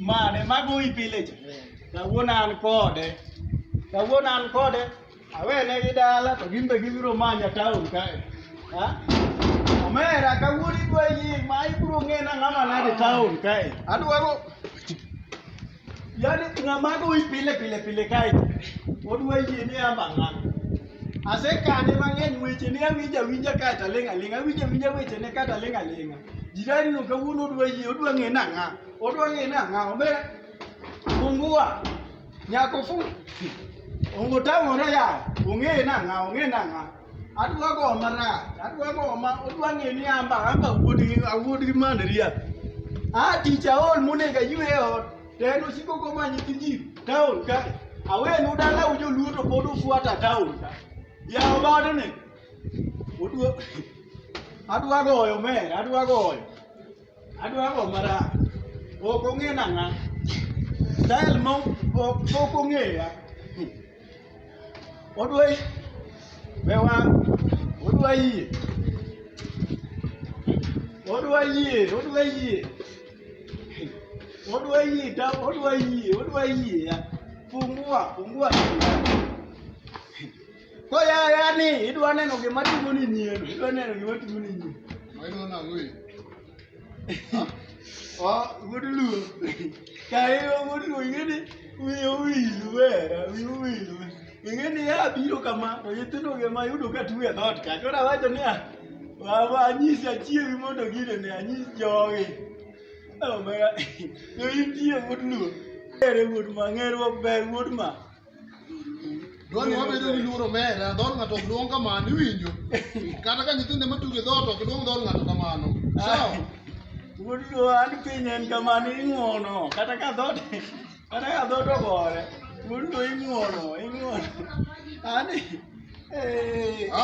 mane magoyi pile cha kawuono an kode kawuono an kode awene gi dala to gin be gibiro manya taon kae ha omera kawuono idwa yie ma ibiro ng'ena ng'ama nade taon kae adwaro Yaani ng'ama goyi pile pile pile kae odwa yie ni ama ng'ama. Asekane mang'eny weche ne awinja winja kae to aling' aling' awinja winja weche ne kae to aling' aling'. Jirani no kawuono odwa yie odwa ng'e na ng'a odwa ng'e na ng'a omera fungua nyako fu ongo tang'ore yawo ong'e na ng'a ong'e na ng'a. adwa go marach adwa go ma odwa ng'e ni amba amba wuod gi awuod gi mandria a tich aol monego aywe e ot to en osiko komanyi gi ji taon ka awenu dalau joluo to pod ufuata taon ka yawo badene odwa adwa goyo mer adwa goyo Adwa go mara. Ok ong'e nang'a. Style mo ok ok ong'eya. Odwa be wa odwa yie. Odwa yie, odwa yie. Odwa yie, ta odwa yie, odwa yie. Fungua, fungua. Koya yani idwa neno gima timo ni nyien, idwa neno gima timo ni nyien. Maino na ngui. Oh, good luo. Kai o good luo ngene wi o wi luo, wi o wi luo. Ngene ya biro kama, to yitino gema yudo ka tuwe dhot ka. Kora wacho ni ah, wa wa anyisi achiewi mondo gine ne anyisi jogi. Oh my god. Yo intie good luo. Ere wuod ma ng'erwa ber wuod ma. Dwani wabedo gi luoro mera, dhor ng'ato ok duong' kamano, iwinjo? Kata ka nyithinde matugo e dhot ok duong' dhor ng'ato kamano. Sawa? Wuod luo an piny en kamano ing'uono kata ka dhot kata ka dhot ogore wuod luo ing'uono ing'uono ani eh, Ha?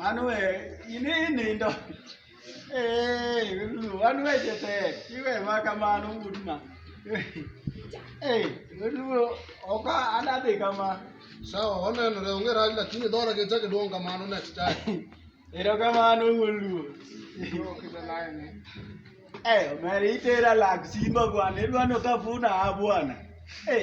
An we ini inindo. Eh, Lulu, an we jete. Iwe ma kamano udma. Eh, Lulu, oka anadhi kama. Sawa, onenore onge rach lakini dhora gi chake duong' kamano next time. Erokamano wuon Luo. Eh, omera itera lak simba bwana, idwa ni okafuna ha bwana. Eh.